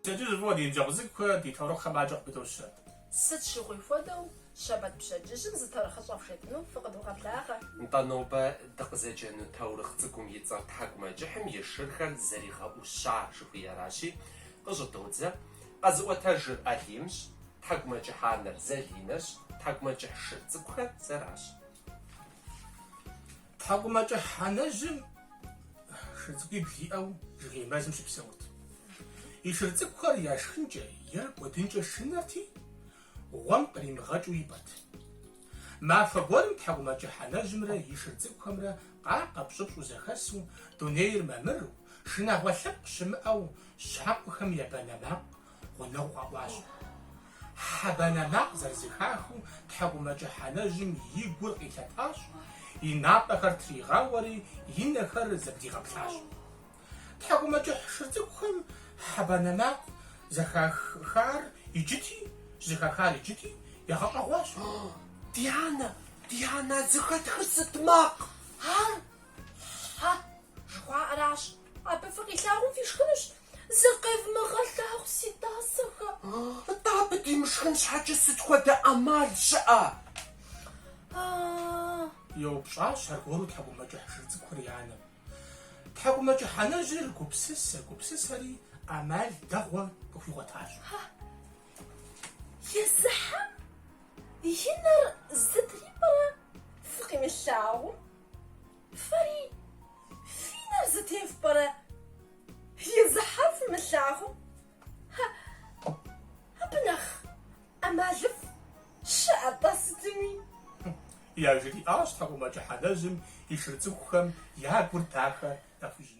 Пщэдджыжь фӏыуэ ди ныбжьэгъу цӏыкӏухэр ди таурыхъхэм адэкӏэ къыпыдощэ. Сыт щыгъуи хуэдэу, щэбэт пщэдджыжьым зы таурыхъыщӏэ фхуетыну фыкъыдогъэблагъэ. Нтӏэ, нобэ дыкъызэджэну таурыхъ цӏыкӏум и цӏэр тхьэкӏумэкӏыхьым и шырхэр зэригъэӏуща жыхуиӏэращи, къыщӏыдодзэ. Къэзыӏуэтэжыр Алимщ, тхьэкӏумэкӏыхь анэр Залинэщ, тхьэкӏумэкӏыхь шыр цӏыкӏухэр сэращ. Тхьэкӏумэкӏыхь анэжьым шыр цӏыкӏуибл иӏэу жыгей мэзым щыпсэурт. И шыр цӏыкӏухэр яшхынкӏэ е кӏуэдынкӏэ шынэрти, гъуэм къримыгъэкӏыу ипӏэт. Мафэ гуэрым тхьэкӏумэкӏыхь анэжьымрэ и шыр цӏыкӏухэмрэ къакъэпщӏыпщӏу зэхэсу, дунейр мамыру, шынагъуэ лъэпкъ щымыӏэу щхьэкъухэм я банэ макъ гъунэгъуу къэӏуащ. Хьэ банэ макъ зэрызэхахыу тхьэкӏумэкӏыхь анэжьым и гур къилъэтащ, и напӏэхэр тригъауэри, и нэхэр зэблигъэплъащ. Тхьэкӏумэкӏыхь шыр цӏыкӏухэм хьэ банэ макъ зэхахар иджыти, зыхахар иджыти, ягъэщӏэгъуащ. Ди анэ, ди анэ, а зыхэтхыр сыт макъ ар? Хьэ жыхуаӏэращ. Абы фыкъилъагъум фишхынущ, зыкъевмыгъэлъагъу си тӏасэхэ. Атӏэ абы димышхын щхьэкӏэ сыт хуэдэ ӏэмал щыӏэ? А-а-а! еупщӏащ аргуэру тхьэкӏумэкӏыхь шыр цӏыкӏухэр и анэм. Тхьэкӏумэкӏыхь анэжьыр гупсысэ, гупсысэри ӏэмал дэгъуэ къыхуигъуэтащ. Езы хьэм и нэр зытрипӏэрэ фыкъимылъагъум? Фэри фи нэр зытефпӏэрэ езы хьэм фымылъагъум? Абы нэхъ ӏэмалыфӏ щыӏэ-тӏэ сытми? Яжриӏащ тхьэкӏумэкӏыхь анэжьым и шыр цӏыкӏухэм я гур дахэ яхуищӏыну.